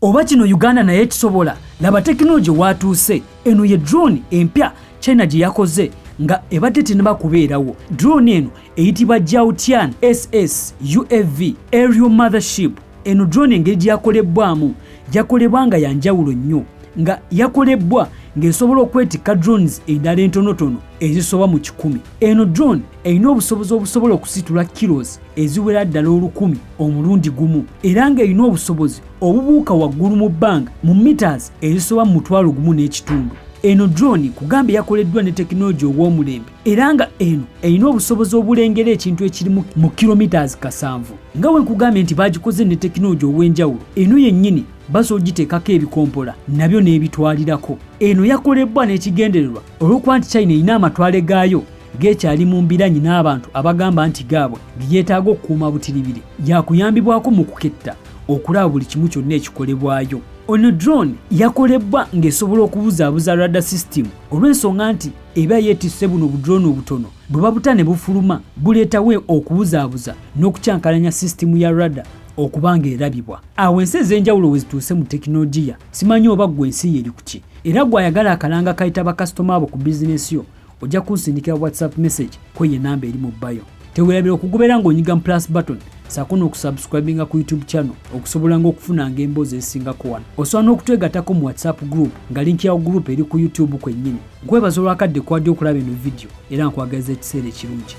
Oba kino Uganda naye ekisobola laba tekinologi waatuuse eno ye drone empya China gye yakoze nga ebadde tenaba kubeerawo drone eno eyitibwa Jiaotian SS UAV aerial mothership eno drone engeri gye yakolebbwamu yakolebwa nga ya njawulo nnyo nga yakolebbwa ng'esobola okwetikka drones endala entonotono ezisoba mu kikumi eno drone erina obusobozi obusobola okusitula kilos eziwera ddala olukumi omulundi gumu era ng'erina obusobozi obubuuka waggulu mu bbanga mu mitas ezisoba mu mutwalo gumu n'ekitundu eno drone kugamba eyakoleddwa ne tekinologi ow'omulembe era nga eno erina obusobozi obulengera ekintu ekirimu mu kilometres kasanvu nga we nkugambye nti bagikoze ne tekinologi ow'enjawulo eno yennyini basobola ogiteekako ebikompola nabyo n'ebitwalirako eno yakolebbwa n'ekigendererwa olw'okuba nti china erina amatwale gaayo geekyali mu mbiranyi n'abantu abagamba nti gaabwe ge yeetaaga okukuuma butiribiri yakuyambibwako mu kuketta okulaba buli kimu kyonna ekikolebwayo ono drone yakolebbwa ng'esobola okubuzaabuza rada system olw'ensonga nti eba yeetisse buno budrone obutono bwe babuta ne bufuluma buleetawo okubuzaabuza n'okukyankalanya system ya rada okuba ng'erabibwa awo ensi ez'enjawulo we zituuse mu tekinologiya simanyi oba ggwe ensi ye eri ku ki era gw'ayagala akalanga kayita bakasitoma abo ku bizinesi yo ojja kunsindikira whatsapp message kwe ye namba eri mu bayo tewerabira okugobera ng'onyiga mu plus button saako n'okusubscribinga ku youtube channel okusobola nga okufunanga emboozi ezisingako wano osobola n'okutwegatako mu whatsapp group nga linki yawo group eri ku youtube kwennyini nkwebaza olwakadde kwadde okulaba eno vidiyo era nkwagaliza ekiseera ekirungi